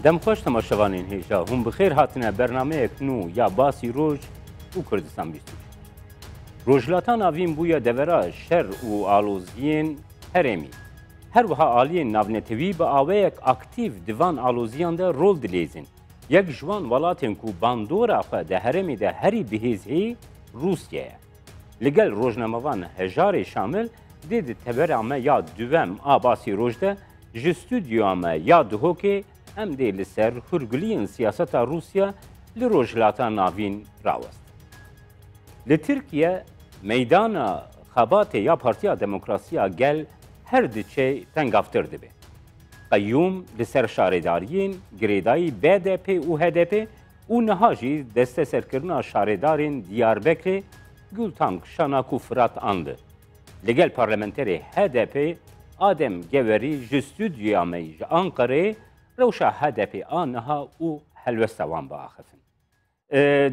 Dem xweş temaşevanên hêja hûn bi xêr hatine bernameyek nû ya basî roj û Kurdistan bîst û çil. Rojhilata Navîn bûye devera şer û aloziyên herêmî. Her wiha aliyên navnetewî bi awayek aktîf di van aloziyan de rol dilêzin. Yek ji wan welatên ku bandora xwe di herêmê de herî bihêz hê Rûsye ye. Li gel rojnamevan Hejarê Şamil dê di tevera me ya dûvem a Basî Roj de ji stûdyoya me ya Duhokê em dê li ser hûrguliyên siyaseta Rûsya li Rojhilata Navîn rawestin. Li Tirkiye meydana xebatê ya Partiya Demokrasiya Gel her diçe tengavtir dibe. Qeyûm di ser şaredariyên girêdayî BDP û HDP û niha jî desteserkirina şaredarên Diyarbekirê Gultank Şanak û Firat Andi li gel parlamenterê HDP Adem Gewerî ji stûdyoya me ji Anqereyê rewşa HDP a niha û helwesta wan biaxifin.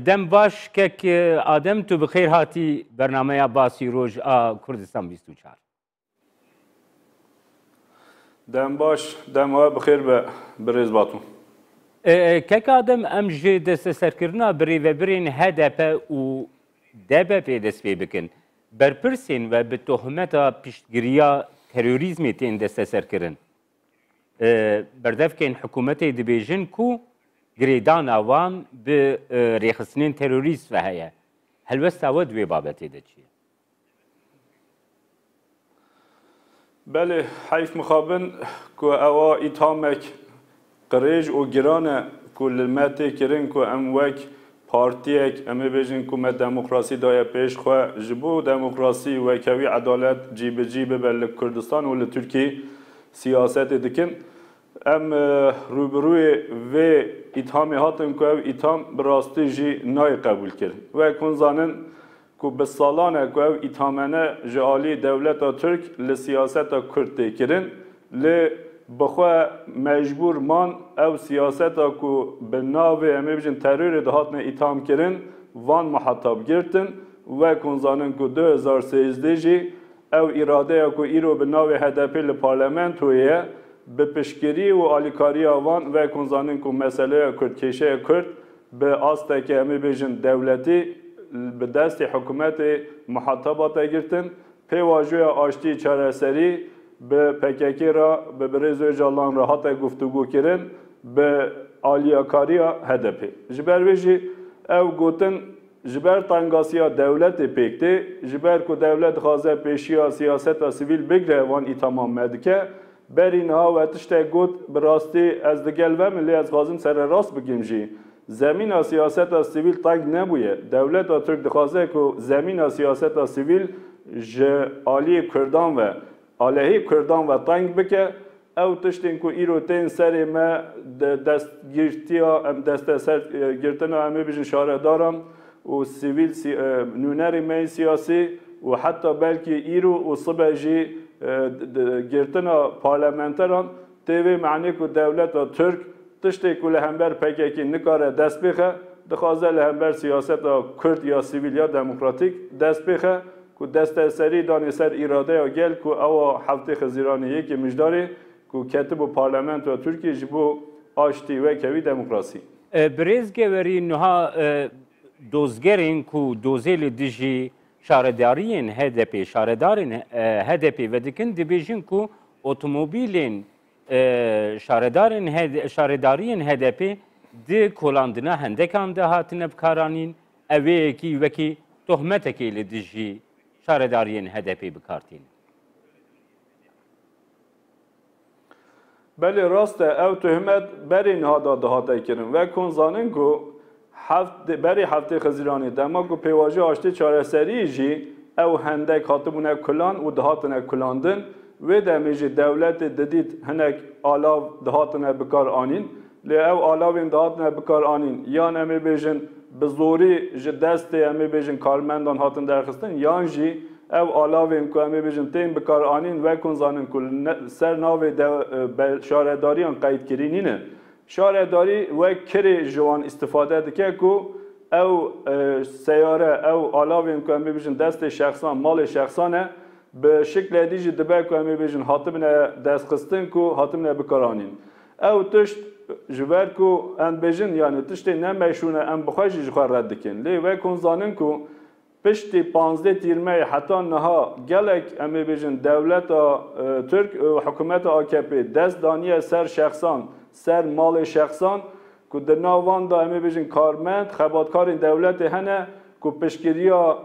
Dem baş kek Adem tu bi xêr hatî bernameya Basî Roj a Kurdistan bîst û çar. Dem baş, dem we bixêr be birêz Batû. Keka din em ji desteserkirina birêvebirên hdp û DBP'ê dest pê bikin. Berpirsên we bi tohmeta piştgiriya terorîzmê tên desteserkirin. Berdevkên hikûmetê dibêjin ku girêdana wan bi rêxistinên terorîst ve heye. Helwesta we di wê babetê de çi ye? Belê heyf mixabin ku ewa îthamek qirêj û giran e ku li me tê kirin ku em wek partiyek em ê bêjin ku me demokrasî daye pêş xwe. Ji bo demokrasî, wekewî, edalet cîbicî bibe li Kurdistan û li Tirkiyê siyasetê dikin. Em rûbirûyê vê îthamê hatin ku ev îtham bi rastî jî nayê qebûlkirin. Wek hûn zanin ku bi salan e ku ew îthamene ji aliyê dewleta Tirk li siyaseta Kurd tê kirin, lê bi xwe mecbûr man ew siyaseta ku bi navê em ê bijin terorê dihatine îtham kirin, van mihetab girtin, wek hûn zanin ku du hezar sêzdeh jî Ew îradeya ku îro bi navê HDP'ê li parlamentoyê ye, bi piştgirî û alîkariya wan vekon zanîn ku meseleya kurd, kêşeya kurd bi asteke em ê bêjin dewletî bi destê hikûmetê miheteba te girtin, pêvajoya aştiyê çareserî bi pkk re, bi birêz Ocalan re hate guftûgûkirin bi aliyakariya HDP'ê. Ji ber vê jî ew gotin Ji ber tengasiya dewletê pêk tê, ji ber ku dewlet dixwaze pêşiya siyaseta sivîl bigre van îtamam me dike. Berî niha we tiştek got, bi rastî ez li gel ve me lê ez dixwazim sererast bikim jî. Zemîna siyaseta sivîl teng nebûye. Dewleta Tirk dixwaze ku zemîna siyaseta sivîl ji aliyê Kurdan ve, Alehî kurdan ve teng bike. Ew tiştên ku îro tên serê me di destgîrtiya em desteser girtina em ê bijin şaredaran û sivîl nûnerên me yên siyasî û heta belkî îro û sibe jî girtina parlamenteran tê vê manê ku dewleta Tirk tiştê ku li hember pkk nikare dest bêxe dixwaze li hember siyaseta kurd ya sivîl ya demokratîk dest bêxe. ku deste serî danê ser îradeya gel ku ew a heftê Xizîranê yekê mijdarê ku ketibû parlamentoya Tirkiyê ji bo aştî, wekhevî, demokrasî. Birêz Gewerî nuha dozgerên ku dozê li dijî şaredariyên HDPê, şaredarên HDPê vedikin dibêjin ku otomobîlên şaredarên şaredariyên HDPê di kolandina hendekan de hatine bikaranîn Ev vê yekî wekî tohmetekê li dijî şaredariyên HDP'ê bi kar tîne. Belê rast e ew tohmet berê niha da dihate kirin. Wek hûn zanin ku heft berê heftê Xiziranê dema ku pêvajoya aştê çareseriyê jî ew hendek hatibûne kulan û dihatine kulandin, wê demê jî dewletê didît hinek alav dihatine bikar anîn. Lê ew alawên dihatine bikaranîn yan em ê bêjin bi zorî ji destê em ê bêjin karmendan hatin derxistin yan jî ev alavên ku em ê bêjin tên bikaranîn wekon zanin ku li ser navê de be şaredariyan qeydkirî nîne. Şaredarî wek kirê ji wan îstifade dike ku ew seyare, ew alavên ku em ê bêjin destê şexsan, malê şexsan e. Bi şikledî jî dibe ku em ê bêjin hatibine destxistin ku hatibine bikaranîn. Ew tişt ji ber ku em dibêjin yanî tiştê ne meşrûn e em bi xwe jî ji xwe red dikin. Lê wek hûn zanin ku piştî panzdeh tîrmeyê heta niha gelek em ê bêjin dewleta Tirk û hikumeta AKP'ê dest daniye ser şexsan, ser malê şexsan ku di nav wan de em ê bêjin karmend, xebatkarên dewletê hene, ku piştgiriya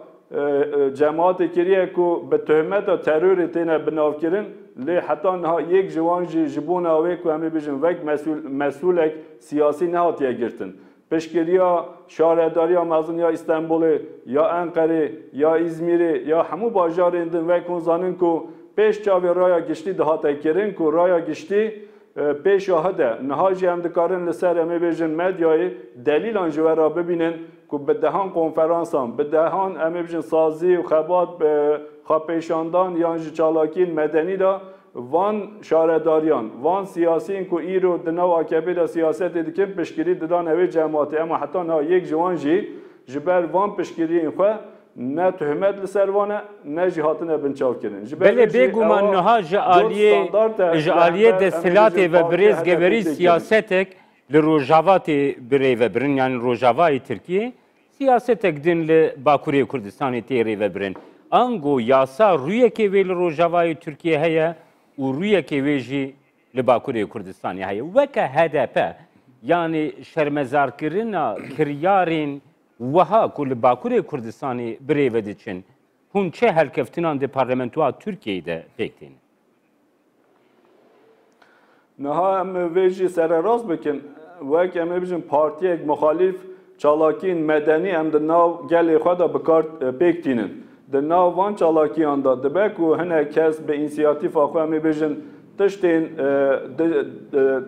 cemaatê kiriye ku bi tohmeta terorê têne binavkirin lê heta niha yek ji wan jî ji bona wê ku em ê bijin wek mesûlek siyasî nehatiye girtin. Piştgiriya Şaredariya Mezin ya Îstenbulê, ya Enqerê, ya Îzmîrê ya hemû bajarên din wek hûn zanin ku pêş çavê raya giştî dihate kirin ku raya giştî Pêşahide, niha jî em dikarin li ser em ê bêjin medyayê delîlan ji we re bibînin ku bi dehan konferansan, bi dehan em ê bijin sazî û xebat, bi xwepêşandan yan ji çalakiyên medenî de van şaredariyan, van siyasiyên ku îro di nav AKP'ê de siyasetê dikin piştgirî didane wê cematê. Ema heta niha yek ji wan jî ji ber van piştgiriyên xwe Ne tuhimet li ser wan e, ne jî hatine binçavkirin. Ji ber vê Belê jî bêguman ewa niha ji dot aliyê standard e ji li aliyê hember em ê desthilatê bijîn ve bi rêz partiya geverî HDP'ê tê kirin. siyasetek li rojava tê birêvebirin yanî rojavayê Tirkiyê siyasetek din li bakurê Kurdistanê tê rêvebirin. Ango yasa rûyekê wê li rojavayê Tirkiyê heye û rûyekê wê jî li bakurê Kurdistanê heye. Weke hdp yanî şermezarkirina kiryarên Wiha ku li Bakurê Kurdistanê bi rê ve diçin, hûn çi helkeftinan di parlamentoa Tirkiyeyê de pêk tên? Niha em vê jî sererast bikin. Wek em ê bijin partiyek muxalîf çalakiyên medenî em di nav gelê xwe de bi kar pêk tînin. Di nav van çalakiyan de dibe ku hinek kes bi însiyatîfa xwe em ê bijin Tiştên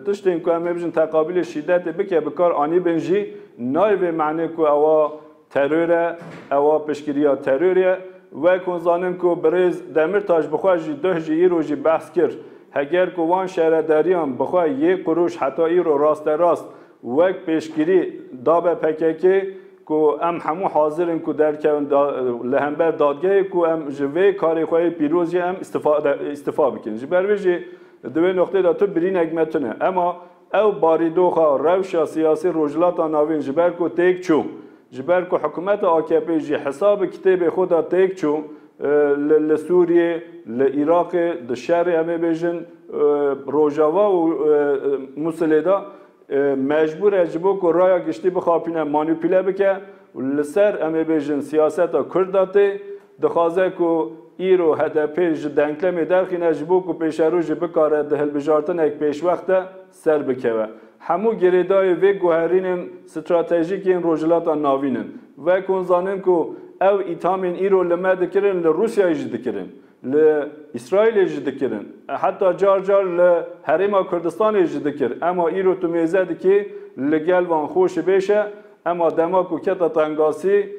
tiştên ku em ê bijin teqabîlê şîdetê bike bi kar anîbin jî nayê vê manê ku ewa teror e, ewa piştgiriya terorê ye. Wek hûn zanin ku birêz Demîrtaş bi xwe jî duh jî îro jî behs kir. Heger ku wan şaredariyan bi xwe yê qurûş heta îro rasterast wek pêşgirî dabe pkk, ku em hemû hazir in ku derkevin li hember dadgehê ku em ji vê karê xwe yê pîroz jî em îstifa bikin. Ji ber vê jî di wê noqteyê de tu birînek me tune. Ema ew barîdoxa rewşa siyasî Rojhilata Navîn ji ber ku têk çû, ji ber ku hikûmeta AKP'ê jî hesa bi kitêbê xwe de têk çû li Sûriyê, li Iraqê, di şerê em ê bêjin Rojava û Mûsilê de, Mecbûr e ji bo ku raya giştî bixapîne manupîle bike û li ser em ê bêjin siyaseta Kurd de tê. Dixwaze ku îro hdp ji denklemê derxîne ji bo ku pêşerojê bikare di hilbijartinek pêşwex de ser bikeve. Hemû girêdayê vê guherînên stratejîk yên Rojhilata Navîn in. Vekonzanin ku ew îthamên îro li me dikirin li Rûsyayê jî dikirin. Li Îsraîlê jî dikirin. Heta car car li Herêma Kurdistanê jî dikir. Ema îro tu mêze dikî li gel van xweşi bêş e. Ema dema ku kete tengasî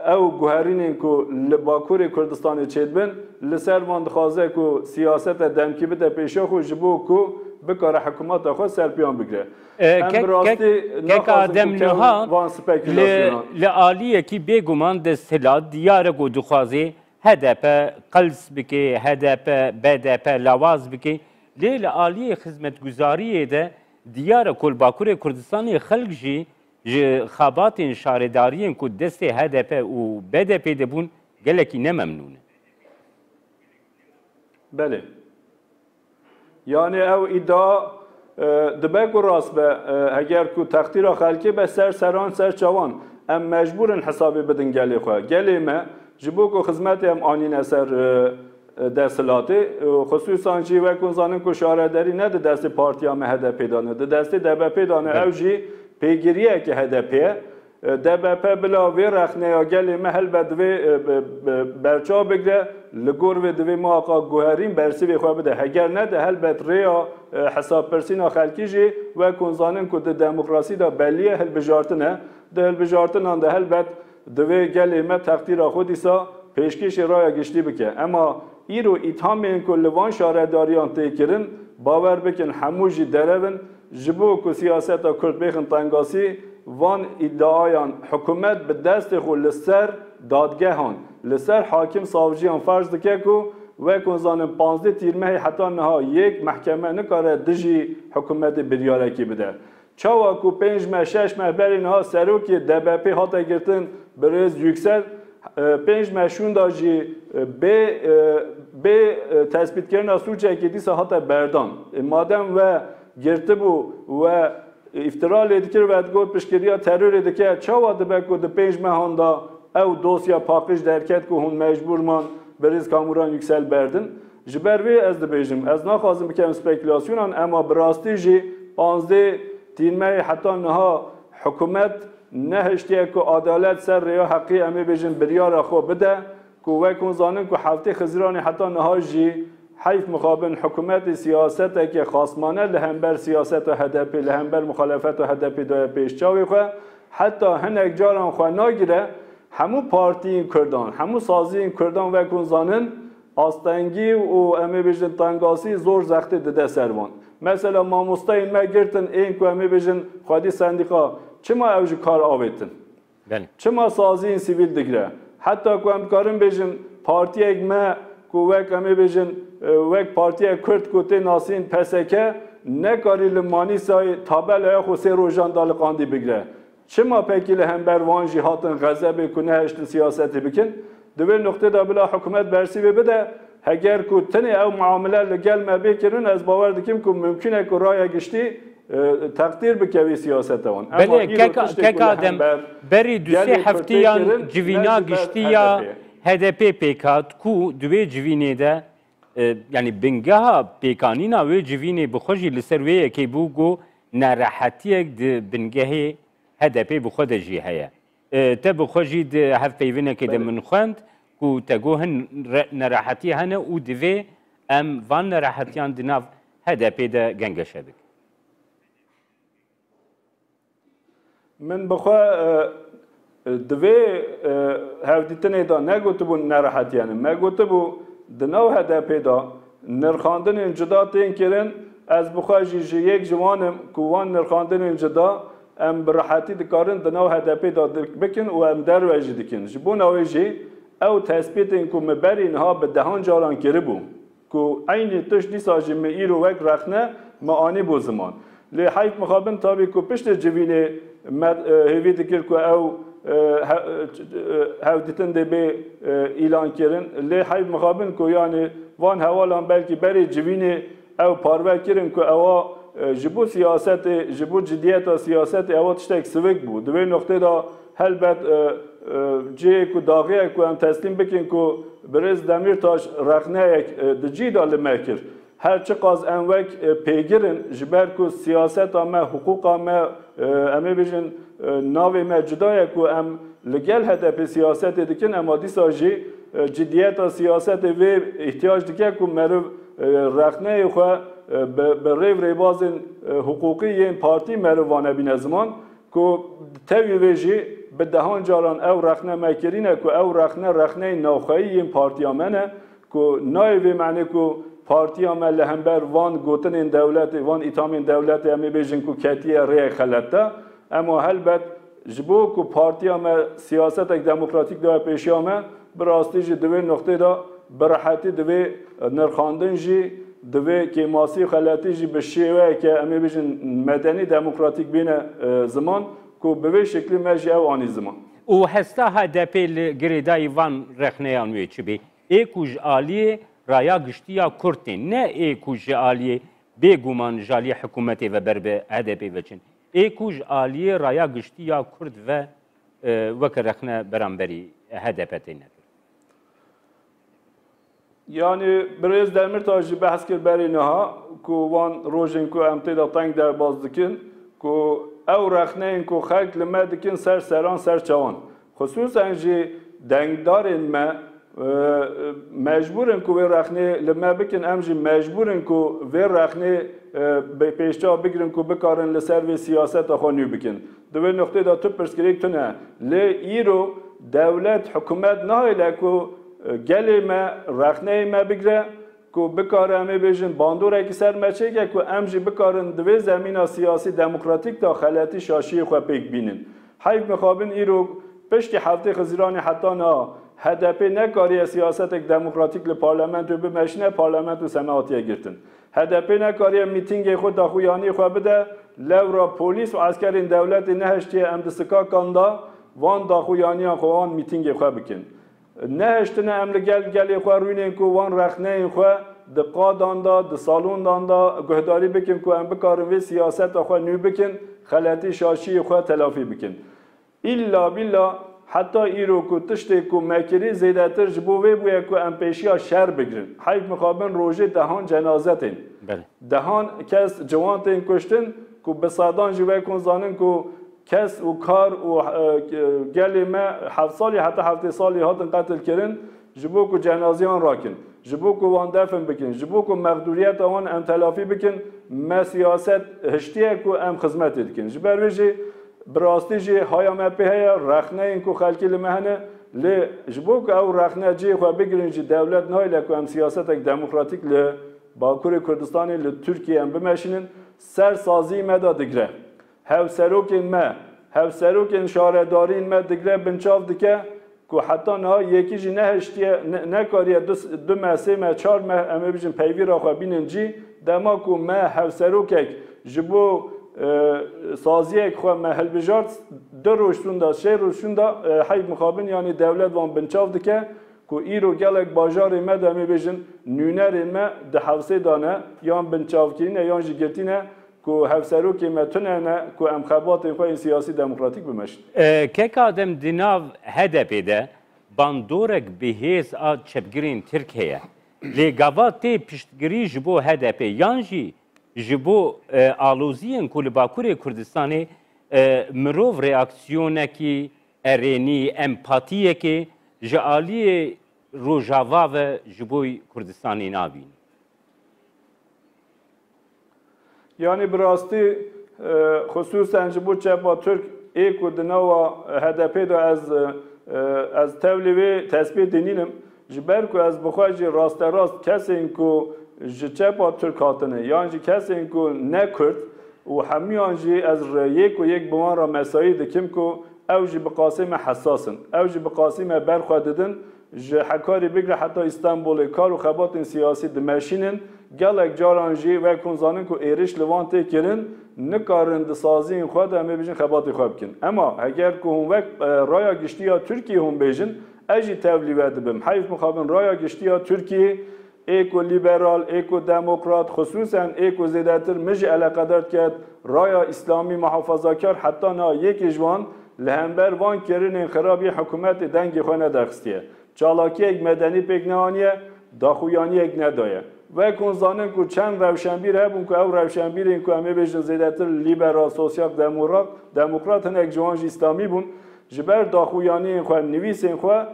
ew guherînên ku li Bakurê Kurdistanê çêdibin, li ser van dixwaze ku siyasete demkî bide pêşa xwe ji bo ku bikare hikumata xwe serpiyan bigire. Em bi rastî naxwazin ku kewin van spekulasyona. Li aliyekî bêguman desthilat diyar e ku dixwaze HDP qels bike, HDP, BDP lawaz bike lê li aliyê xizmetguzariyê de diyar e ku li Bakurê Kurdistanê xelk jî ji xebatên şaredariyên ku destê HDP û BDPê de bûn gelekî ne memnûn in. Belê. Yanî ew îdia dibe ku rast be, heger ku textîra xelkê be ser serran ser çavan, em mecbûr in hesabê bidin gelê xwe. Gelê me ji bo ku xizmetê em anîne ser desthilatê, xisûsan jî wek hûn zanin ku şarederî ne di destê partiya me HDP'ê de ne, di destê DBP'ê de ne, ew jî pêgiriyeke HDP'ê ye. DBP bila vê rexneya gelê me helbet divê berçav bigire, li gor vê divê muhaqa guherîn bersîvê xwe bide. Heger ne de helbet rêya hesabpirsîna xelkî jî wek hûn zanin ku di demokrasî de belî ye hilbijartin e. Di hilbijartinan de helbet divê gelê me textîra xwe dîsa pêşkêşî raya giştî bike. Ema Îro îthamên ku li van şaredariyan tê kirin, bawer bikin hemû jî derev in. Ji bo ku siyaseta Kurd bêxin tengasî, van îdiayan hikûmet bi destê xwe li ser dadgehan, li ser hakim savciyan ferz dike ku wek hûn zanin pazdeh tîrmehê heta niha yek mehkeme nikare dijî hikûmetê biryarekî bide. Çawa ku pênc meh şeş meh berî niha serokê DBP'ê hate girtin birêz Yüksel, pênc meh şûnda jî bê bê tespîtkirina sûcekê dîsa hate berdan. Madem we girtibû we îftira lê dikir we digot piştgiriya terorê dike çawa dibe ku di pênc mehan de ew dosya paqij derket ku hûn mecbûr man birêz Kamuran Yüksel berdin? Ji ber vê ez dibêjim, ez naxwazim bikevim spekülasyonan ema bi rastî jî panzdeh tîrmeyê heta niha hikûmet nehiştiye ku adalet ser rêya heqî em ê bêjin biryara xwe bide ku wek hûn zanin ku heftê Xiziranê heta niha jî heyf mixabin hikûmetê siyaseteke xasmane li hember siyaseta HDP'ê li hember muxalefeta HDP'ê daye pêş çavê xwe heta hinek caran xwe nagire hemû partiyên kurdan hemû saziyên kurdan wek hûn zanin Astengî û em ê bêjin tengasî zor zextê dide ser wan. Mesela mamosteyên me girtin ên ku em ê bêjin xwedî sendîka çima ew ji kar avêtin? Çima saziyên sivîl digre? Heta ku em dikarin bêjin partiyek me ku wek em ê bêjin wek partiyek kurd ku tê nasîn PSK nekarî li Manîsayê tabelayê xwe sê rojan da li qandî bigre. Çima pekî li hember wan jî hatin xezebê ku nehiştin siyasetê bikin? Di vê nuqtê de bila hikûmet bersî vê bide, heger ku tenê ew miamile li gel me bê kirin ez bawer dikim ku mimkûn e ku raya giştî teqdîr bike vê siyasete wan. Ema îro tiştê ku li hember gelê Kurdê kirin ne ji ber HDP'ê ye. HDP'ê pêk hat ku di wê civînê de yanî bingeha pêkanîna wê civînê bi xwe jî li ser wê yekê bû ku nerehetiyek di bingehê HDP bi xwe de jî heye. Te bi xwe jî di hev peyvinekê de min xwend ku te got hin nerehetî hene û divê em van nerehetiyan di nav HDP de gengeşe bikin. Min bi xwe di vê hevdîtinê de negotibûn nerehetiyan in. Me gotibû di nav HDP'ê de nirxandinên cuda tên kirin, ez bi xwe jî ji yek ji wan im ku wan nirxandinên cuda em bi rehetî dikarin di nav HDP'ê de bikin û em derve jî dikin. Ji bona wê jî ew tespîtên ku me berî niha bi dehan caran kiribû Ku eynî tişt dîsa jî min îro wek rexne min anî bo ziman. Lê heyf mixabin tabî ku piştê civînê me hêvî dikir ku ew hevditin dê bê îlankirin. Lê heyf mixabin ku yanî van hewalan belkî berê civînê ew parve kirin ku ewa ji bo siyasetê, ji bo cidiyeta siyasetê ewa tiştek sivik bû. Di wê noqtê de. Helbet cihê ku daxiyek ku em teslîm bikin ku birêz Demîrtaş rexneyek di cî de li me kir. Her çiqas em wek pêgir in ji ber ku siyaseta me, hiqûqa me, em ê bêjin navê me cuda ye ku em li gel HDP'ê siyasetê dikin ema dîsa jî cidiyeta siyasetê vê îhtiyac dike ku meriv rexneyê xwe bi rêv rêbazên hiqûqî yên partî meriv vanebîne ziman. Ku di tevî vê jî bi dehan caran ew rexne me kirîne ku ew rexne rexneyên navxeyî yên partiya me ne ku nayê vê manê ku partiya me li hember van gotinên dewletê, van îthamên dewletê em ê bêjin ku ketiye rêyek xelet de. Ema helbet ji bo ku partiya me siyasetek demokratîk daye pêşiya me, Bi rastî jî di vê nuqtê de bi rehetî divê nirxandin jî, divê kêmasî û xeletî jî bi şêweyeke em ê bêjin medenî, demokratîk bîne ziman ku bi vê şeklî me jî ew anî ziman. Û hesta HDP'ê li girêdayî van rexneyan wê çi bê? Ê ku ji aliyê raya giştî ya kurd tên, ne ê ku ji aliyê bê guman ji aliyê hikûmetê ve ber bi HDP'ê ve çin. Ê ku ji aliyê raya giştî ya kurd ve weke rexne beramberî HDP tê nekir. Yanî birêz Demirtaş jî behs kir berî niha ku wan rojên ku em tê de teng derbas dikin ku ew rexneyên ku xelk li me dikin ser seran ser çawan xisûsen jî dengdarên me mecbûr in ku wê rexnê li me bikin em jî mecbûr in ku vê rexnê bi pêşçav bigirin ku bikarin li ser vê siyaseta xwe nû bikin. Di vê nuqteyê de tu pirsgirêk tune. Lê îro dewlet, hikûmet nahêle ku gelê me, rexneyê me bigire ku bikare em ê bêjin bandorekî ser me çêke ku em jî bikarin di vê zemîna siyasî demokratîk de xeletî şaşiyê xwe pêk bînin. Heyf mixabin îro piştî heftê Xiziranê heta niha HDP'ê nekariye siyasetek demokratîk li parlamentoyê bimeşine, parlamento seme hatiye girtin. HDP'ê nekariye mîtîngê xwe daxuyanî xwe bide, lewra polîs û eskerên dewletê nehiştiye em di sikakan de van daxuyaniyan xwe wan mîtîngê xwe bikin. Nehiştine em li gel gelê xwe rûnên ku wan rexneyên xwe di qadan de, di salondan de guhdarî bikin ku em bikarin vê siyaseta xwe nû bikin, xeletî şaşiyê xwe telafî bikin. Îlla bîlla heta îro ku tiştê ku me kirî zêdetir ji bo vê bûye ku em pêşiya şer bigirin. Heyf mixabin rojê dehan cenaze tên. Dehan kes ciwan tên kuştin ku bi sedan jî wek hûn zanin ku kes û kar û gelê me heft salî heta heftê salî hatin qetil kirin. Ji bo ku cenazeyan rakin, ji bo ku wan defn bikin, ji bo ku mexdûriyeta wan em telafî bikin, me siyaset hiştiye ku em xizmetê dikin. Ji ber vê jî bi rastî jî haya me pê heye, rexneyên ku xelkî li me hene. Lê ji bo ku ew rexne cihê xwe bigirin jî dewlet nahêle ku em siyasetek demokratîk li Bakurê Kurdistanê, li Tirkiyeyê em bimeşînin. Ser sazî me de digre. Hevserokên me, hevserokên şaredariyên me digre binçav dike ku heta niha yekî jî nehiştiye, nekariye du du meh, sê meh, çar meh em ê bijîn peyvîra xwe bînin cî. Dema ku me hevserokek ji bo saziyek xwe me hilbijart, du roj şûnda, sê roj şûnda heyv mixabin yanî dewlet wan binçav dike ku îro gelek bajarên me de em ê bêjin nûnerên me di hewsê de ne, yan binçavkirî ne yan jî girtî ne Ku hevserokê me tune ne ku em xebatên xwe yên siyasî demokratîk bimeşin. Kek Adem di nav HDP'ê de bandorek bi hêz a çepgirên Tirk heye. Lê gava tê piştgirî ji bo HDP'ê yan jî ji bo aloziyên ku li Bakurê Kurdistanê mirov reaksiyonekî erênî, empatiyekê ji aliyê Rojava ve ji bo Kurdistanê nabînî. Yanî bi rastî xisûsen ji bo çepa Tirk ê ku di nava HDPê de ez ez tevlî wê tesbîtê nînim, ji ber ku ez bi xwe jî rasterast kesên ku ji çepa Tirk hatine yan jî kesên ku ne Kurd û hemûyan jî ez yek û yek bi wan re mesayî dikim ku ew jî bi qasî me hesas in, ew jî bi qasî me ber xwe didin. Ji Hekarî bigre heta Îstanbulê kar û xebatên siyasî dimeşînin, gelek caran jî wek hûn zanin ku êriş li wan tê kirin, nikarin di saziyên xwe de em ê bijîn xebatê xwe bikin. Ema heger ku hûn wek raya giştî ya Tirkiyê hûn bêjin, ez jî tevlî we dibim. Heyf mixabin raya giştî ya Tirkiyê Ê ku lîberal, ê ku demokrat, xisûsen ê ku zêdetir min jî eleqedar diket, raya îslamî muhafazakar heta niha yekê ji wan li hember van kirinên xirab yên hikûmetê dengê xwe nederxistiye, çalakiyek medenî pêk neaniye, daxuyaniyek nedaye. Wek hûn zanin ku çend rewşenbîr hebûn ku ew rewşenbîrên ku em ê bêjin zêdetir lîberal, sosyal demokrat, hinek ji wan jî îslamî bûn, ji ber daxuyaniyên xwe, nivîsên xwe,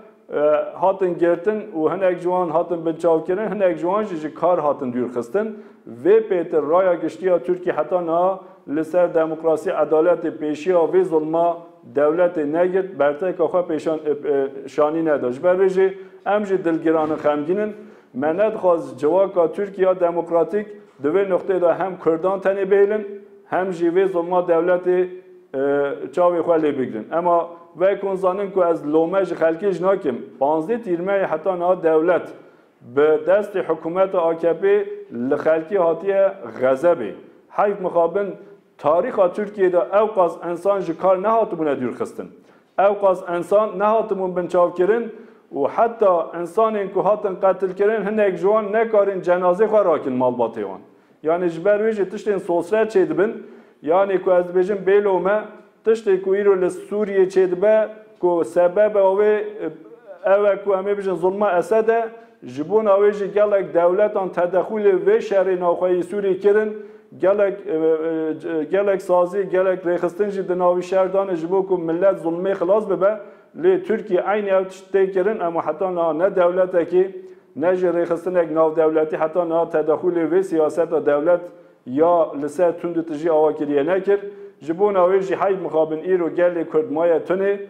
hatin girtin û hinek ji wan hatin binçavkirin, hinek ji wan jî ji kar hatin dûrxistin. Vê pêtir raya giştî ya Tirkiyê heta niha li ser demokrasî, edaletê pêşiya vê zilma dewletê negirt, berteka xwe pêşan şanî neda. Ji ber vê jî em jî dilgiran in, xemgîn in. Me nedixwaz civaka Tirkiya demokratîk di vê nuqteyê de hem kurdan tenê bihêlin hem jî vê zilma dewletê, Çavê xwe lê bigirin. Ema ve kon zanin ku ez lome ji xelkê jî nakim. Panzdeh tîrmeyê heta niha dewlet bi destê hikûmeta AKP'ê li xelkê hatiye xezebê. Heyf mixabin tarîxa Tirkiyeyê de ewqas ensan ji kar nehatibûne dûrxistin. Ewqas ensan nehatibûn binçavkirin û heta ensanên ku hatin qetilkirin hinek ji wan nekarin cenazê xwe rakin malbatê wan. Yanî ji ber wê jî tiştên sosre çêdibin. Yanî ku ez dibêjim bêlo me, tiştê ku îro li Sûriyê çêdibe ku sebeba wê ew e ku em ê bijin zilma Esed e, ji bona wê jî gelek dewletan tedexûlê vê şerê navxweyî Sûriyê kirin, gelek gelek sazî, gelek rêxistin jî di navî şer dane ji bo ku milet zilmê xilas bibe. Lê Tirkiye eynî ew tişt tê kirin, ema heta niha ne dewletekî, ne jî rêxistinek navdewletî heta niha tedaxûlê vê siyaseta dewlet ya li ser tunditijî awa kiriye nekir. Ji bona wê jî heyf mixabin îro gelê Kurd maye tunê.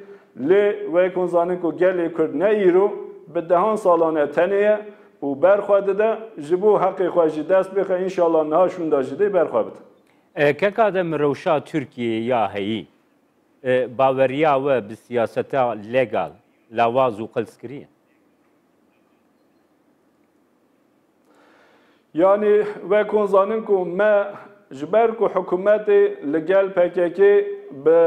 Lê wek hûn zanin ku gelê Kurd ne îro, bi dehan salan e tenê ye û ber xwe dide. Ji bo heqê xwe jî dest bixe, înşallah niha şûnda jî dê ber xwe bide. Keka de mi rewşa Tirkiyeyê ya heyî. Baweriya we bi siyaseta legal lawaz û qils kiriye? Yanî wek hûn zanin ku me ji ber ku hikûmetê li gel pkk-ê bi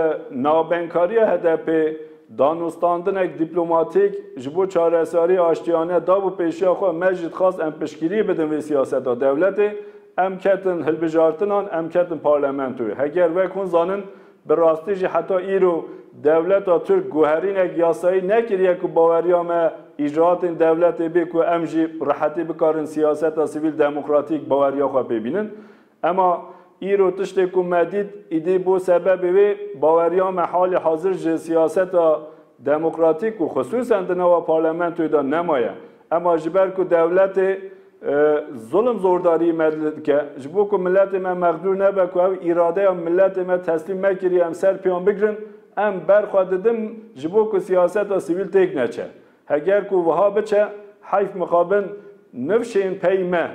navbenkariya HDP'ê danûstandinek dîplomatîk ji bo çareseriyê aştiyane dabû pêşiya xwe, me jî dixwast em piştgirî bidin vê siyaseta dewletê, em ketin hilbijartinan, em ketin parlamentoyê. Heger wek hûn zanin Bi rastî jî heta îro dewleta Tirk guherînek yasayî nekiriye ku baweriya me îcraatên dewletê bê ku em jî bi rehetî bikarin siyaseta sivîl demokratîk baweriya xwe pê bînin. Ema îro tiştê ku me dît îdî bo sebebê wê baweriya me halê hazir ji siyaseta demokratîk û xisûsen di nava parlamentoyê de nemaye. Ema ji ber ku dewletê zulm zordariyê me li dike, ji bo ku miletê me mexdûr nebe ku ew îradeya miletê me teslîm nekiriye em ser pêyan bigirin, em ber xwe didin ji bo ku siyaseta sivîl têk neçe. Heger ku wiha biçe, heyf mixabin nifşên pey me,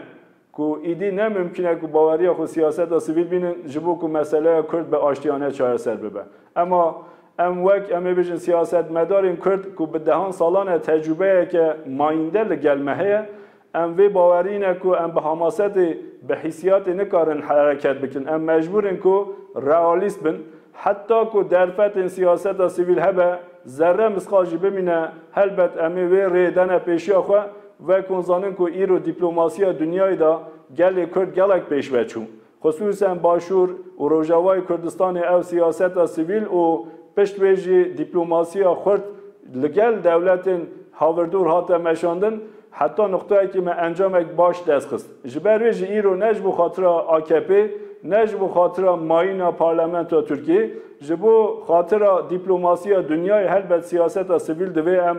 Ku êdî ne mimkîn e ku baweriya xwe siyaseta sivîl bînin ji bo ku meseleya Kurd bi aştiyane çareser bibe. Ema em wek em ê bijin siyasetmedarên Kurd ku bi dehan salan e tecrûbeyeke mayînde li gel me heye, em vê bawerî ne ku em bi hamasetê, bi hîsiyatê nikarin hereket bikin. Em mecbûr in ku realîst bin. Heta ku derfetên siyaseta sivîl hebe, zerre misqal jî bimîne, helbet em ê wê rêyê dane pêşiya xwe, Wek hûn zanin ku îro dîplomasiya dinyayê de gelê Kurd gelek pêşve çû. Xisûsen Başûr û Rojavayê Kurdistanê ew siyaseta sivîl û pişt wê jî dîplomasiya xurt li gel dewletên havirdûr hate meşandin. Heta nuqtayekî me encamek baş dest xist. Ji ber wê jî îro ne ji bo xatira AKP'ê, ne ji bo xatira mayîna parlamentoya Tirkiyê, ji bo xatira dîplomasiya dinyayê helbet siyaseta sivîl divê em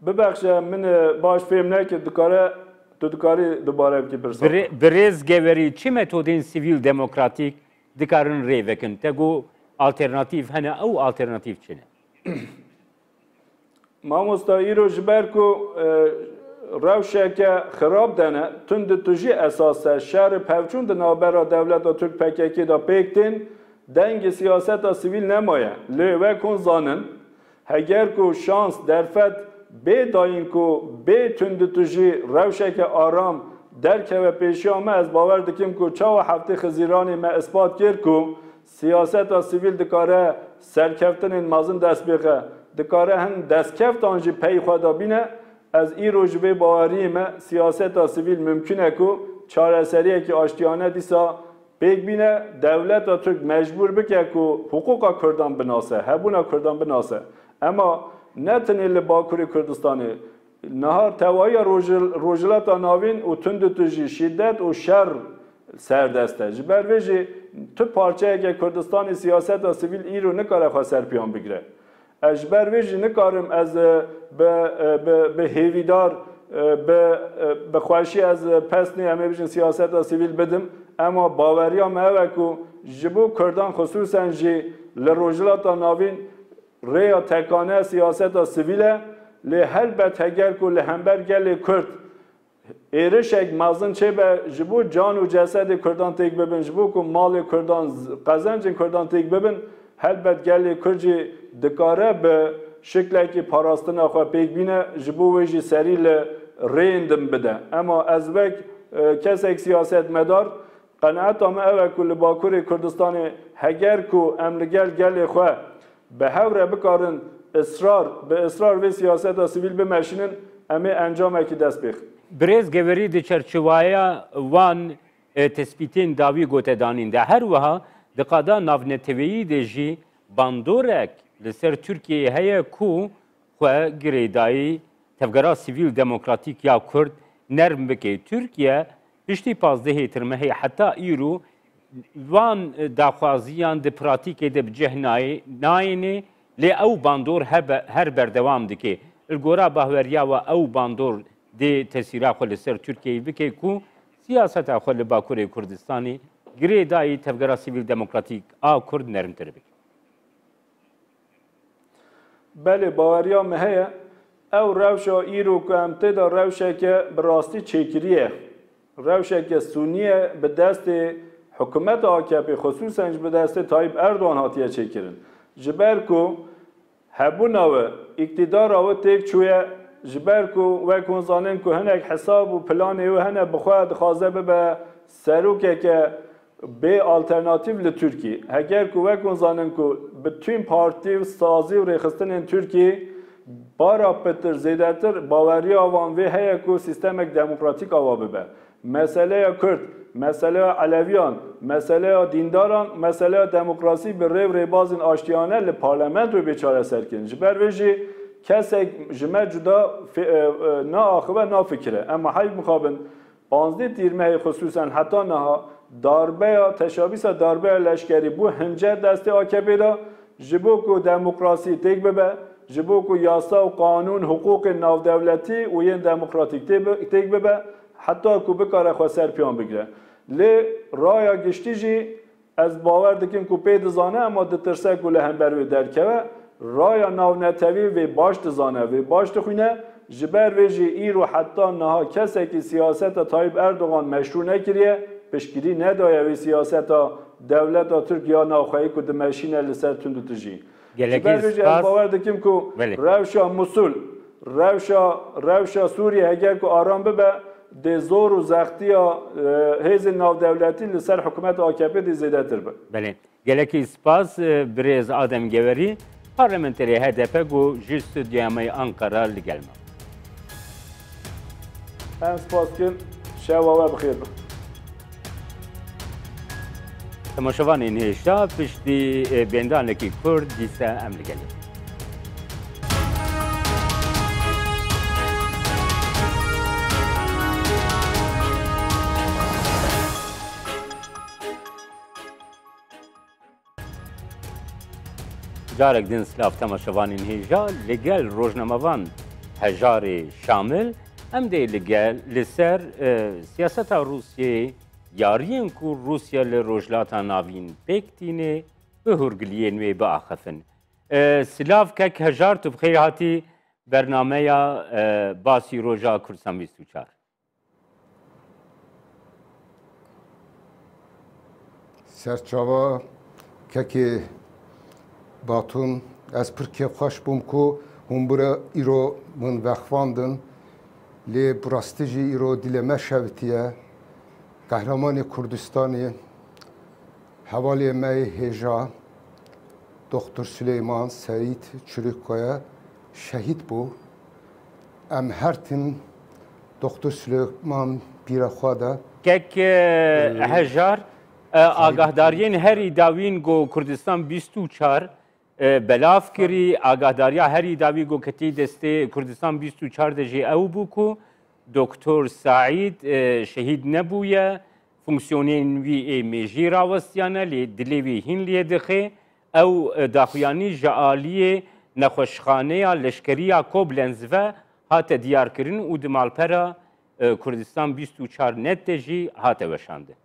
Bibexşe min baş fêm nekir dikare tu dikarî dubare bikî pirsa xwe. Birêz Geverî çi metodên sivîl demokratîk dikarin rê vekin? Te got alternatîf hene ew alternatîf çi ne? Mamosta îro ji ber ku rewşeke xirab de ne, tunditujî esas e, şer û pevçûn di navbera dewleta Tirk-PKK'ê de pêk tên, Dengê siyaseta sivîl nemaye. Lê wek hûn zanin, heger ku şans, derfet, bê dayîn ku bê tunditujî rewşeke aram derkeve pêşiya me, ez bawer dikim ku çawa Heftê Xizîranê me ispat kir ku siyaseta sivîl dikare serkeftinên mezin dest bixe, dikare hin destkeftan jî pey xwe de bîne, ez îro ji vê baweriyê me siyaseta sivîl mimkûn e ku çareseriyekî aştiyane dîsa Pêk bîne dewleta Tirk mecbûr bike ku hiqûqa Kurdan binase, hebûna Kurdan binase. Ema ne tenê li Bakurê Kurdistanê, niha tewahiya Rojhilata Navîn û tundutujî, şîdet û şer serdest e. Ji ber vê jî tu parçeyeke Kurdistanê siyaseta sivîl îro nikare xwe serpiyan bigire. Ez ji ber vê jî nikarim ez bi bi bi hêvîdar bi bi xwahişî ez pesnê em ê bijin siyaseta sivîl bidim. Ema baweriya me ew e ku ji bo kurdan xisûsen jî li Rojhilata Navîn rêya tekane siyaseta sivîl e. Lê helbet heger ku li hember gelê kurd Êrişek mezin çêbe ji bo can û cesedê Kurdan têk bibin, ji bo ku malê Kurdan, qezencên Kurdan têk bibin, helbet gelê Kurd jî dikare bi şiklekî parastina xwe pêk bîne, ji bo wê jî serî li rêyên din bide. Ema ez wek kesek siyasetmedar, qenaeta min ew e ku li Bakurê Kurdistanê heger ku em li gel gelê xwe, Bi hev re bikarin israr bi israr vê siyaseta sivîl bimeşînin, em ê encamekî dest pê xin. Birêz Geverî di çerçeweya van tespîtên dawî gotedanîn de her wiha di qada navneteweyî de jî bandorek li ser Tirkiyeyê heye ku xwe girêdayî tevgera sivîl demokratîk ya Kurd nerm bike. Tirkiye Piştî pazdehê tirmehê heta îro van daxwaziyan di pratîkê de bi cih nayêne lê ew bandor hebe her berdewam dike. Li gora bahweriya we ew bandor dê tesîra xwe li ser Tirkiyeyê bike ku siyaseta xwe li Bakurê Kurdistanê girê dayî Tevgera Sivîl Demokratîk a Kurd nermtir bike. Belê baweriya me heye, ew rewşa îro ku em tê de rewşeke bi rastî çêkirî ye. Rewşeke sûnî ye bi destê hikûmeta AKP'ê xisûsen ji bi destê Tayyîp Erdogan hatiye çêkirin. Ji ber ku hebûna wê, îktîdara wê têk çûye, ji ber ku wek hûn zanin ku hinek hesab û planê wê hene bi xwe dixwaze bibe serokeke Bê alternatîf li Tirkî. Heger ku wek hûn zanin ku bi tîm partî û sazî û rêxistinên Tirkî bara pitir zêdetir baweriya wan vê heye ku sîstemek demokratîk awa bibe. Meseleya Kurd, meseleya Eleviyan, meseleya dîndaran û meseleya demokrasî bi rê û rêbazên aştiyane li parlamentoyê bê çareserkirin. Ji ber vê jî kesek ji me cuda naaxive nafikire. Em heyv mixabin Pazdeh tîrmehê xisûsan heta niha darbeya teşabîsa darbeya leşkerî bû hince destê akpê de ji bo ku demokrasî têk bibe, ji bo ku yasa û qanûn hiqûqên navdewletî û yên demokratîk têk bibe heta ku bikare xwe ser piyan bigire. Lê raya giştî jî Ez bawer dikim ku pê dizane ema ditirse ku li hember wê derkeve. Raya navnetewî vê baş dizane, vê baş dixwîne, ji ber vê jî îro heta niha kesekî siyaseta Tayyîp Erdogan meşrû nekiriye, piştgirî nedaye wê siyaseta dewleta Tirk ya navxweyî ku dimeşîne li ser tundutijî. Ji ber vê jî ez bawer dikim ku rewşa Mûsul, rewşa rewşa Sûriyê heger ku aram bibe dê zor û zextiya hêzên navdewletî li ser hikûmeta AKP'ê dê zêdetir be. Belê. Gelekî spas birêz Adem Gewerî, parlamenterê HDP ku ji stûdyoya me yê Anqera li gel ma. Em spas kin şewa we bi xêr be. Temaşevanên hêja piştî bêndanekî Kurd dîse em li gelê. Carek din silav tema şevanên hêja li gel rojnamevan hejarê Şamil em dê li gel li ser siyaseta Rûsyeyê yariyên ku Rûsya li Rojhilata Navîn pêk tînê bi hûrgiliyên wê biaxifin. Silav kek hejar tu bi xêr hatî bernameya basî roja Kurdistan 24. Serçava kekê Batun ez pir kêfxweş bûm ku hûn bira îro min vexivandin. Lê bi rastî jî îro dîlê me şevitiye. Qehremanê Kurdistanê hevalê me yê hêja Doktor Suleyman Seîd Çirîkoye şehîd bû. Em her tim Doktor Silêman pîra xwe de. Kek hejar agahdariyên herî dawîn go Kurdistan bîst û çar belav kirî. Agahdariya herî dawî go ketî destê Kurdistan bîst û çar de jî ew bû ku Doktor Saîd şehîd nebûye. Fonksiyonên wî ê mêjî rawestiyane lê dilê wî hîn lê dixê. Ew daxuyanî ji aliyê Nexweşxaneya Leşkerî ya Koblenz ve hate diyarkirin û di malpera Kurdistan bîst û çar net de jî hate weşandin.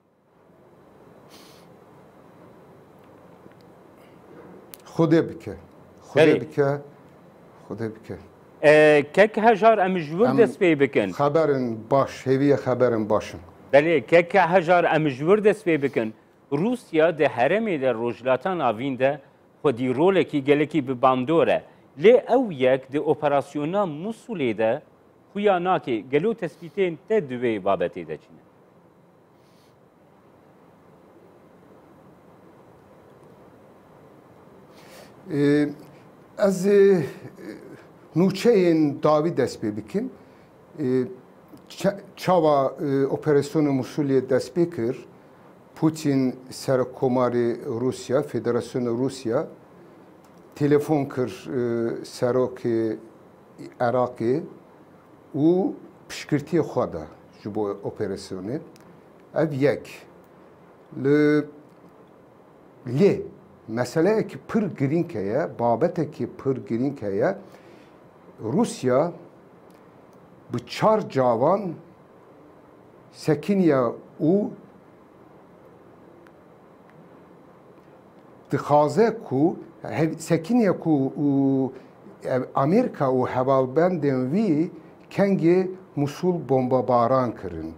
Xwedê bike. Xwedê bike. Xwedê bike. Kek hejar em ji wir dest pê bikin. Xeberin baş hêviye xeberin baş in. Belê kek hejar em ji wir dest pê bikin. Rûsya di herêmê de Rojhilata Navîn de xwedî rolekî gelekî bi bandor e. Lê ew yek di operasyona Musulê de xuya nake. Gelo tespîtên te di wê babetê de çi ne? Ez nûçeyên dawî dest pê bikim. Çawa operasyona Mûsulê dest pê kir? Pûtîn Serokomarê Rûsya, Federasyona Rûsya telefon kir Serokê Iraqê û piştgirtiyê xwe da ji bo operasyonê. Ev yek. Li lê meseleyekî pir girîng heye, babetekî pir girîng heye. Rûsya bi çar cavan sekiniye û dixwaze ku sekiniye ku û Amerîka û hevalbendên wî kengê Musul bombebaran kirin.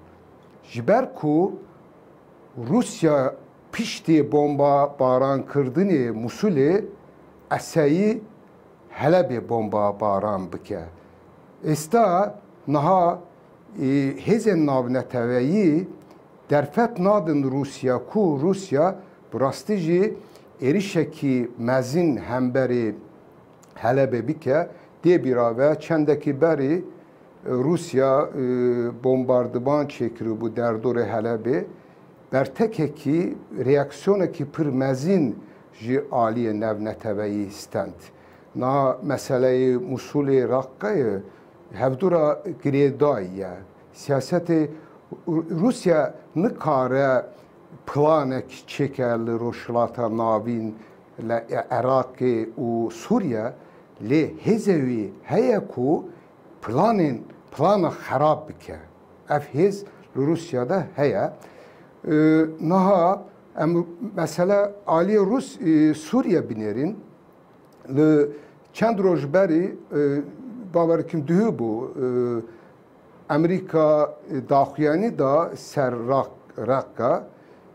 Ji ber ku Rûsya piştî bombebarankirdinê Musulê eseyî Helebê bomba baran bike. Êsta niha hêzên navneteweyî derfet nadin Rûsya ku Rûsya bi rastî jî êrîşekî mezin hemberî Helebê bike. Dê bîra be çendekî berî Rûsya bombardiman çêkiribû derdorê Helebê. Bertekekî reaksyonekî pir mezin Ji aliyê navneteweyî stend. Niha meseleyê Mûsulê Raqqeyê hevdûra girêdayî ye. Siyasetê Rûsya nikare planek çêke li Rojhilata Navîn, li Iraqê û Sûriye lê hêzê wî heye ku planên plana xerab bike. Ev hêz li Rûsya de heye. Niha. Em mesela aliyê Rûs ê Sûriye binêrîn. Li çend roj berî e, bawer dikim duhî bû Amerîka e, daxuyanî da ser Raqqa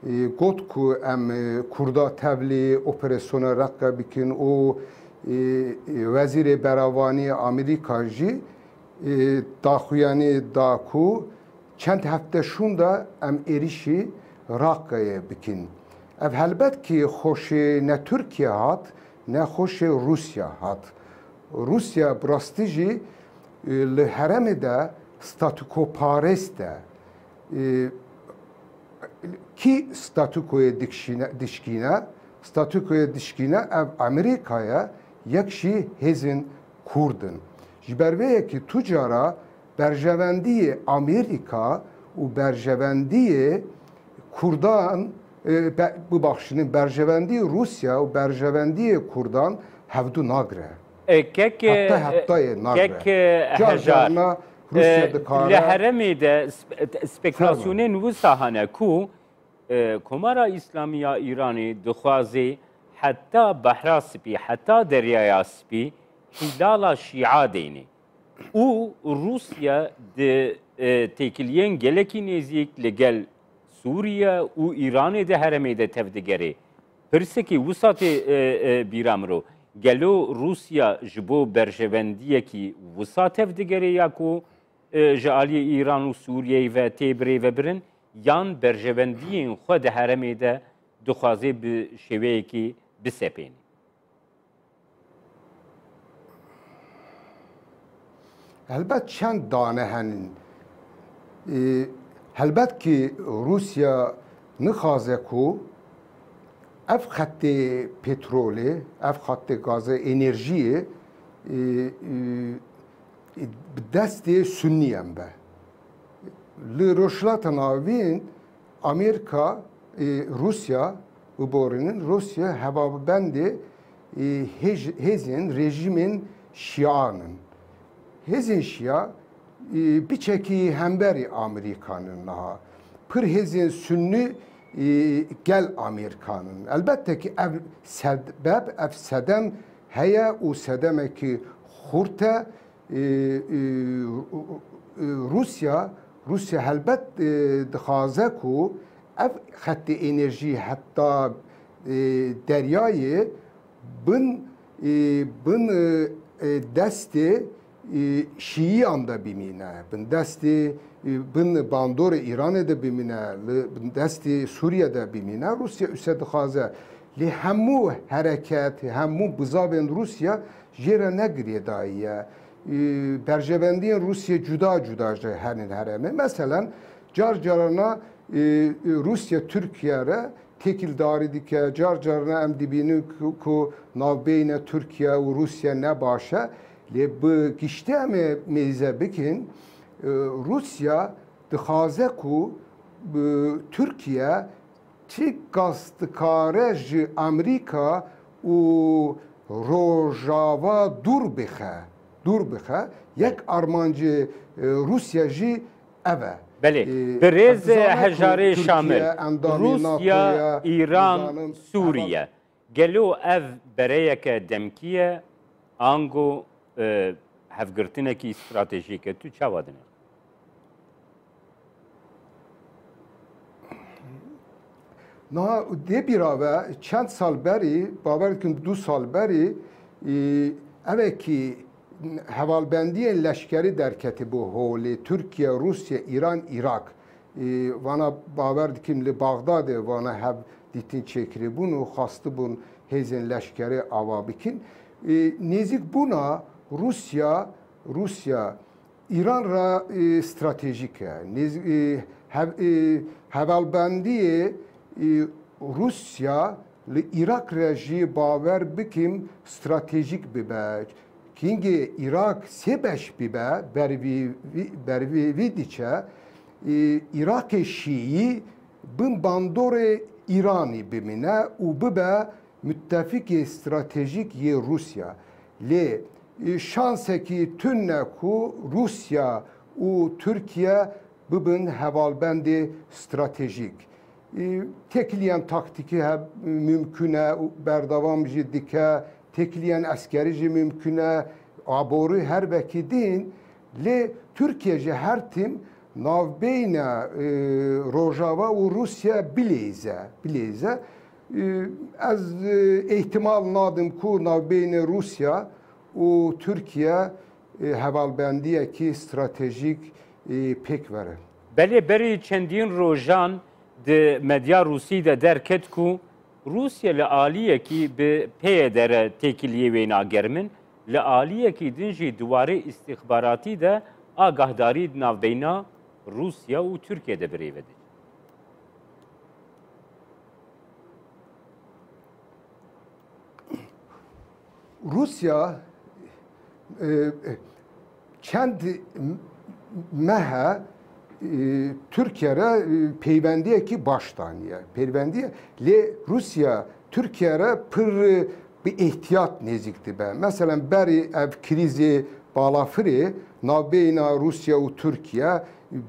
e, got ku em Kurda tevlî operasyona Raqqa bikin û Wezîrê Beravanî Amerîka jî daxuyanî da ku Çend hefte şûnda em êrîşî Raqqeyê bikin. Ev helbet kî xoşê ne Tirkiye hat ne xoşê Rûsya hat. Rûsya bi rastî jî li heremê de statûkoparêst e. Kî statûkoyê dişkîne? Statûkoyê dişkîne ev Amerîka ye, yek jî hêzên Kurd in. Ji ber vê yekî tu cara Berjevendiyê Amerîka û berjevendiyê Kurdan, bibexşînin, berjevendiyê Rûsya û berjevendiyê Kurdan hevdu nagire. Kek kek hejar li heremê de spekulasiyonên wisa hene ku Komara Îslamî ya Îranê dixwazê heta Behra Spî, heta Deryaya Spî hîlala şîa deynê. û Rûsya di têkiliyên gelekî nêzîk li gel Sûriye û Îranê de heremê de tev digerê. Pirsekî wisa tê bîra miro. Gelo Rûsya ji bo berjevendiyekî wisa tev digerê ya ku ji aliyê Îran û Sûriyeyê ve tê birêvebirin yan berjevendiyên xwe di heremê de dixwazê bi şêweyekî bisepênê. Helbet çend dane henin. Helbet ki Rûsya nixaze ku ev xettê petrolê, ev xettê gazê, enerjiyê bi destê Sunniyan be. Li Rojhilata Navîn Amêrika, Rûsya û borînin Rûsya hevabendê hêzên rejîmên şîan in. Hêzên şîa biçekî hemberî Amerîkan in niha. Pir hêzên sunnî gel Amerîkan in. Elbette kî ev sebeb, ev sedem heye û sedemekî xurt e. Rûsya Rûsya helbet dixwaze ku ev xettê ênerjî heta deryayê bin bin destê şîiyan de bimîne, bin destê bin bandorê Îranê de bimîne, li bin destê Sûriye de bimîne. Rûsya ûse dixwaze lê hemû hereket, hemû bizavên Rûsya Jê re ne girêdayî ye. Berjevendiyên Rûsyê cuda cuda ji henên herêmê. Meselen car carana Rûsye Tirkiye re têkildarî dike. Car carana em dibînin ku navbeyne Tirkiye û Rûsye ne baş e. Lê bi giştî em ê mêze bikin Rûsya dixaze ku Tirkiye Çi kes dikare ji Amerîka û Rojava dûr bixe, dûr bixe. Yek armancê Rûsya jî ev e. Belê. Bi rêz hejarê şamil, Rûsya, Îran, Sûriye, Gelo ev bereyeke demkî ye ango hevgirtinekî stratejîk e? Tu çawa dinê? Niha dê bîra ve çend sal berî, bawer dikim du sal berî evekî hevalbendiyên leşkerî derketîbû holê Tirkiye, Rûsye, Îran, Îrak. Ê vana bawer dikîm li Baxdadê vana hev dîtin çêkirîbûn û xwastibûn hêzên leşkerê ava bikîn. Ê nêzîk bûna Rûsya Rûsya Îran re ê stratejîk e. Nêz ê hev ê hevalbendiyê ê Rûsya Li Îraq re jî bawer bikin stratejîk bibe. Kingê Îraq sê beş bibe ber vî diçe. Îraqê Şîî bin bandorê Îranî bimîne û bibe mitefikê stratejîk yê Rûsya. Lê şansekî tune ku Rûsya û Tirkiye bibin hevalbendê stratejîk. Têkiliyên taktîkî he mumkûn e û berdewam jî dike, têkiliyên eskerî jî mumkûn e, aborî her vekî din. Lê Tirkiye ji her tim navbeyna Rojava û Rûsya bileyze, bileyze. Ez îhtimal nadim ku navbeyna Rûsya û Tirkiye hevalbendiyekî stratejîk pêk verin. Belê berî çendîn rojan di medya Rûsî de derket ku Rûsya li aliyekî bi PYD-re têkiliyê wêna germin, li aliyekî din jî di warê îstîxbaratî de agahdarî di navbeyna Rûsya û Tirkiye de birêve dikin. Rusya çend mehe Tirkiye re peywendiyekî baş daniye. Peyvendiye lê Rusya Tirkiye re pir bi îhtiyat nêzîk dibe. Mesela berî ev krîzê balafirê navbeyna Rusya û Tirkiye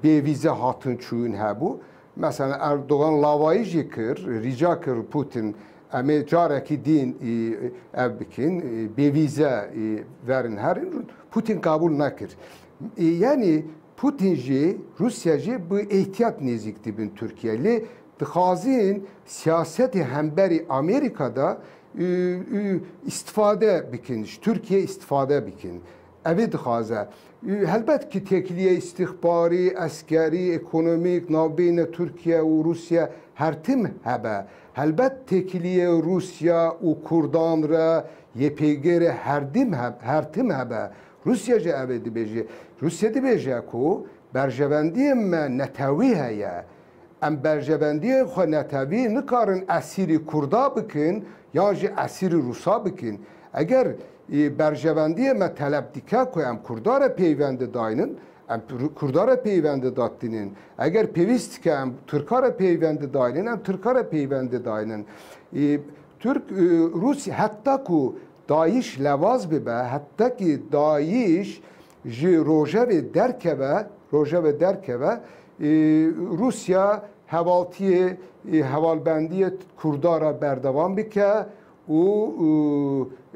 bêvîze hatin çûyîn hebû. Meselen Erdogan lavayî jî kir, rîca kir Putin em ê carekî dîn ev bikin, bê vîze verin herin. Putin kabûl nekir. Yanî Putin jî, Rûsya jî bi îhtiyat nêzîk dibin Tirkiyeyê. Lê dixwazin siyasetê hemberî Amerîka de îstifade bikin, ji Tirkiyeyê îstifade bikin. Evî dixwaze. Helbet ki têkiliyê îstîxbarî, eskerî, ekonomîk, navbeyne Tirkiye û Rûsye her tim hebe. Helbet têkiliyê Rûsya û Kurdan re yê pêgê re her dim her tim hebe. Rûsye jî evê dibêje. Rûsye dibêje ku berjevendiyê me netewî heye. Em berjevendiyên xwe netewî nikarin esîrî Kurda bikin yan jî esîrî Rûsa bikin. Eger berjevendiyê me teleb dike ku em Kurda re peyvendi daynin, em Kurda re peyvendi datinin. Eger pêwîst dike em Tirka re peyvendi daynin, em Tirka re peyvendi daynin. Tirk û Rûsî heta ku dayîş lewaz bibe, heta ki dayîş Ji rojevê derkeve rojevê derkeve Rûsya hevaltiyê hevalbendiyê Kurda re berdewam bike û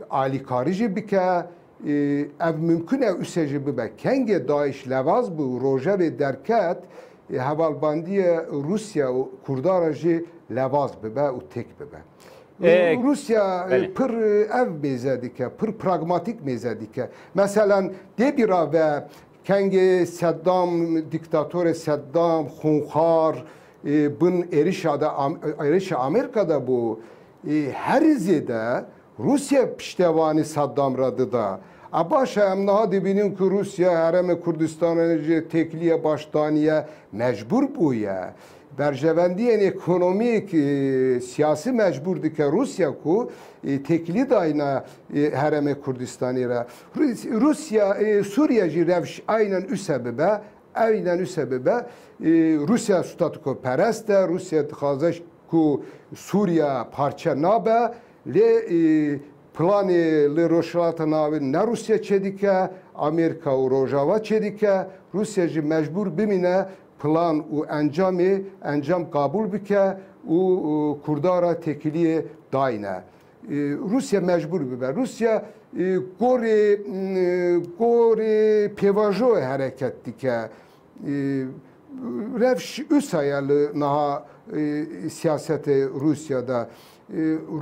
alîkarî jî bike. Ev mimkun e use jî bibe. Kengê DAIŞ levaz bû û rojevê derket hevalbendiyê Rûsya û Kurda re jî levaz bibe û têk bibe. Ee, Rusya e, belê. pir ev mêze dike, pir pragmatik mêze dike. Mesela dê bîra ve kengê Seddam, diktatorê Seddam, xunxar e, bin êrişa de Am- êrişa Amerîka de bû. E, Herî zêde Rusya piştevanî Seddam re dida. A baş e em niha dibînin ku Rusya herêmê Kurdistanê ji têkilîya baş daniye mecbûr bûye. Berjevendiyên ekonomîk, siyasî mecbûr dike Rûsya ku têkilî dayne Herêmê Kurdistanê re. Rûsya Sûriye jî rewş aynen use bibe, aynen use bibe. Rûsya statikoperest e, Rûsya dixwaze ku Sûriye parçe nabe. Lê planê li Rojhilata Navîn ne Rûsya çêdike, Amerîka û Rojava çêdike. Rûsya jî mecbûr bimîne plan û encamê encam qabûl bike û Kurdan re têkiliyê dayne. Rûsya mecbûr bibe. Rûsya gorê gorê pêvajoyê hereket dike. Revş usa ye li niha siyasetê Rûsya de.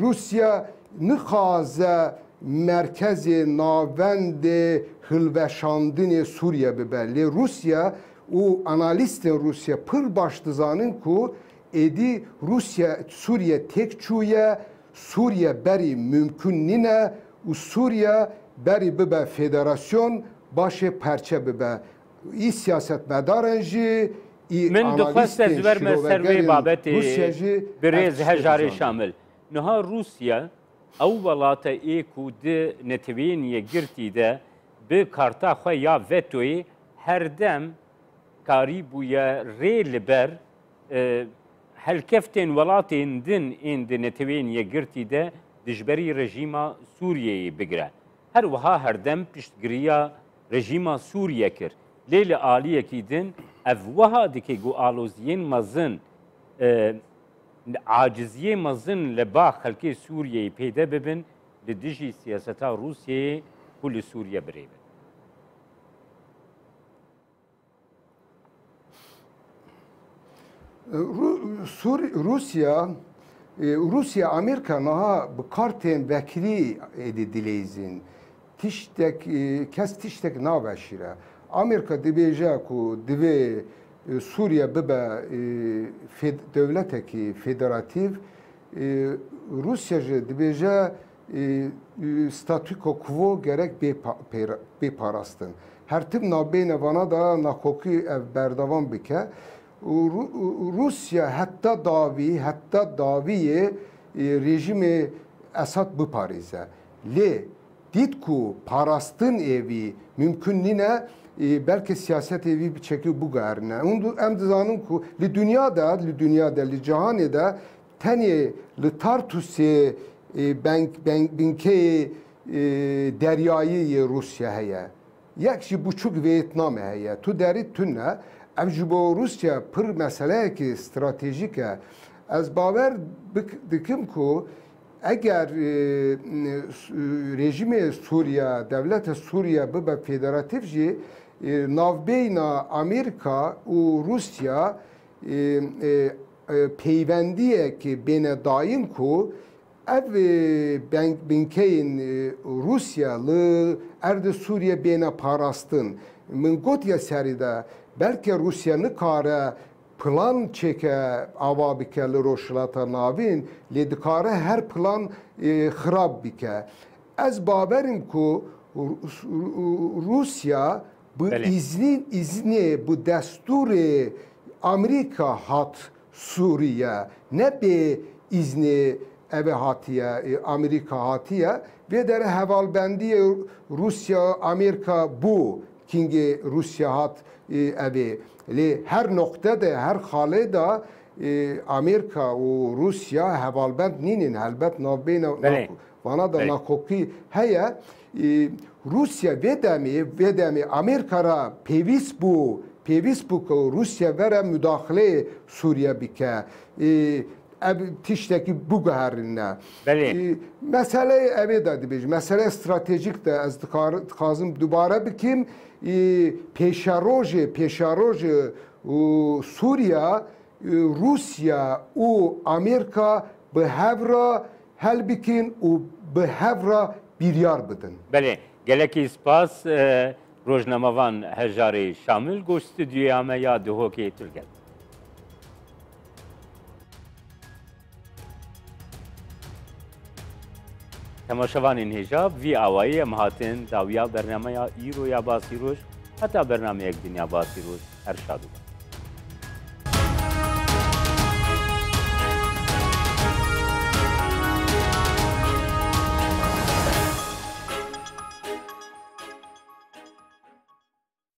Rûsya nixaze merkezê navendê hilveşandinê Sûriye bibe. Lê Rûsya Û analîstên Rûsye pir baş dizanin ku êdî Rûsye Sûriyê têk çûye, Sûriye berî mumkûn nîne û Sûriye berî bibe federasyon başê perçe bibe. Î siyasetmedaran jî, î Min dixwest ez analîstên verme ser wê şirovegerên babetê Rûsye jî ev birêz tiştê Hejarê dizanin. Şamil. Niha Rûsye ew welate ê ku di Neteweyên Yekgirtî de Bi karta xwe ya vetoyê her dem karî bûye rê li ber helkeftên welatên din ên di Neteweyên Yekgirtî de dijberî rejîma Sûriyeyê bigire. Her wiha her dem piştgiriya rejîma Sûriye kir. Lê li aliyekî din ev wiha dike ku aloziyên mezin, aciziyê mezin li ba xelkê Sûriyeyê pêde bibin li dijî siyaseta Rûsyeyê ku li Sûriye birêve. Rusya Rusya Amerîka niha bi kartên vekirî êdî dileyzîn. Tiştek kes tiştek naveşîre. Amerîka dibêje ku divê Sûriye bibe dewletekî federatîv Rûsya jî dibêje statûko quvo gerek bê parastin. Her tim nabêne vana de nakokî ev berdavan bike û Rûsya heta dawî heta dawiyê rejîmê Esad biparêze. Lê Dît ku parastin ê vî mumkun nîne, belkî siyasetê vî bi çekî biguherîne. Hûn em dizanin ku li dinya de, li dinya de, li cihanê de tenê li Tartusê beng beng binkeyê deryayî yê Rûsya heye. Yek jî buçûk Vêyetnamê heye. Tu derî tune. Ev ji bo Rûsya pir meseleyekî stratejîk e. Ez bawer bik dikim ku. Eger rejîmê Sûriye, dewleta Sûriye bibe federatîf jî navbeyna Amerîka û Rûsya peywendiyek bêne dayîn ku ev binkeyên Rûsya li erdê Sûriye bêne parastin. Min gotiye serî de belke Rûsya nikare Plan çêke ava bike li Rojhilata Navîn lê dikare her plan xirab bike. Ez bawerim ku Rûsya bi îznî îznê bi destûrê Amerîka hat Sûriye ne bê îznê ev ê hatiye Amerîka hatiye. Vê dere hevalbendiyê Rûsya Amerîka bû Kîngê Rûsya hat ev ê. Lê her noqte de, her xalê de Amêrika û Rûsya hevalbend nîn ên. Helbet navbeyna vana de nakokî heye. Rûsya vê demê, vê demê Amêrika re pêwîst bû, pêwîst bû ku Rûsya vere mudaxileyê Sûriye bike. Ev tiştekî biguherîne. Belê. Meseleyê evê de dibêjim. Meseleya stratejîk de ez dixwazim dubare bikîm. Pêşerojê, pêşerojê û Sûriya, Rûsya û Amêrika bi hev re hel bikîn û bi hev re bîryar bidin. Belê. Gelekî spas rojnamevan Hejarê Şamil goş stûdyoya me ya Duhokê Turkcell. Temaşevanên hêjav vî awayî em hatin dawiya bernameya îro ya Basî Roj heta bernameyek dinya Basî Roj her şad û baş.